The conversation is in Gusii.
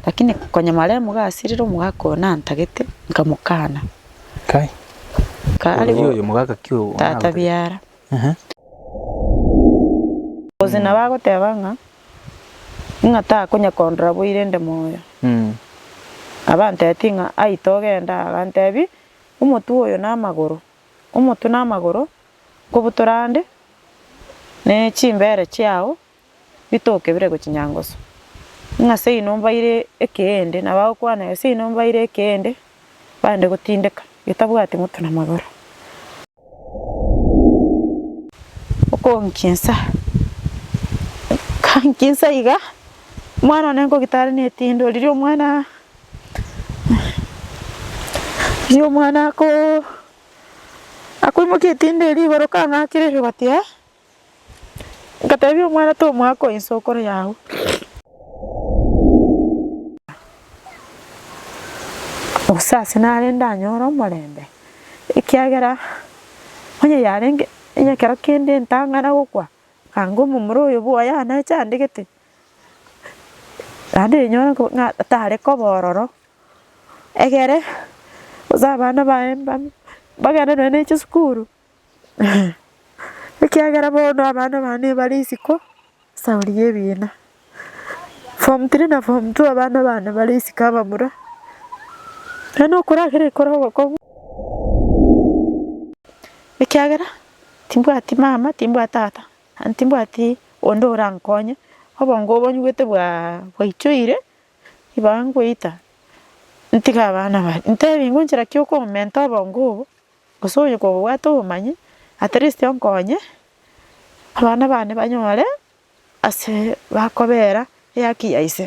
Lakini konyamara omoga asirire omogaka oyo nantagete, nkamokana. Kai. Ka Oyo aribo oyo omogaka ki oyo tata onagotebe? biara. Ehe. Gose nabo agoteba ng'a, ng'a takonya kondora boire nde moyo. Mm. Nabo antebetie ng'a, Ai togenda. Agantebia, Omotwe oyo na amagoro, omotwe na amagoro, nkobutora ande, ne chimbere chiao bitokebire gochia nyangoso, ng'a seino mbaire ekeende, na bagokwana, Gose seino mbaire ekeende, bande gotindeka, getabwati moto na magoro. Okonkinsa, kankinsa iga, omwana one nkogita are netindo, riria omwana, riria omwana ako, akoimokia etindo eria igoro, kang'akire igoro, gati ee. Ngatebia omwana tomwaka oyo inse okore yao. Gose ase nare ndanyore omorembe, ekiagera onye yarenge onye ekero kende ntang'ana gokwa, anga omomura oyo bwoye aneche andegete, naende rinyore ko ng'a tare koba ororo, egere gose abana baye mbabia mbagende nonya ne chisukuru, Ekiagera bono abana bane bare isiko saori y'ebiina. Form three na form two abana bane bare isiko abamura, na nokoragera ekero ogokong'u ekiagera timbwati mama, timbwati tata, aye timbwati onde orankonye, obongo obo nyigwete bwaa bwaichoire, ibaga ngoita ntige abana bare, ntebi ngonchera ki okomenta obongo obo. Gose onye kogobwate obomanyi, at least onkonye abana bane banyore ase bakobera ehaki ya ise.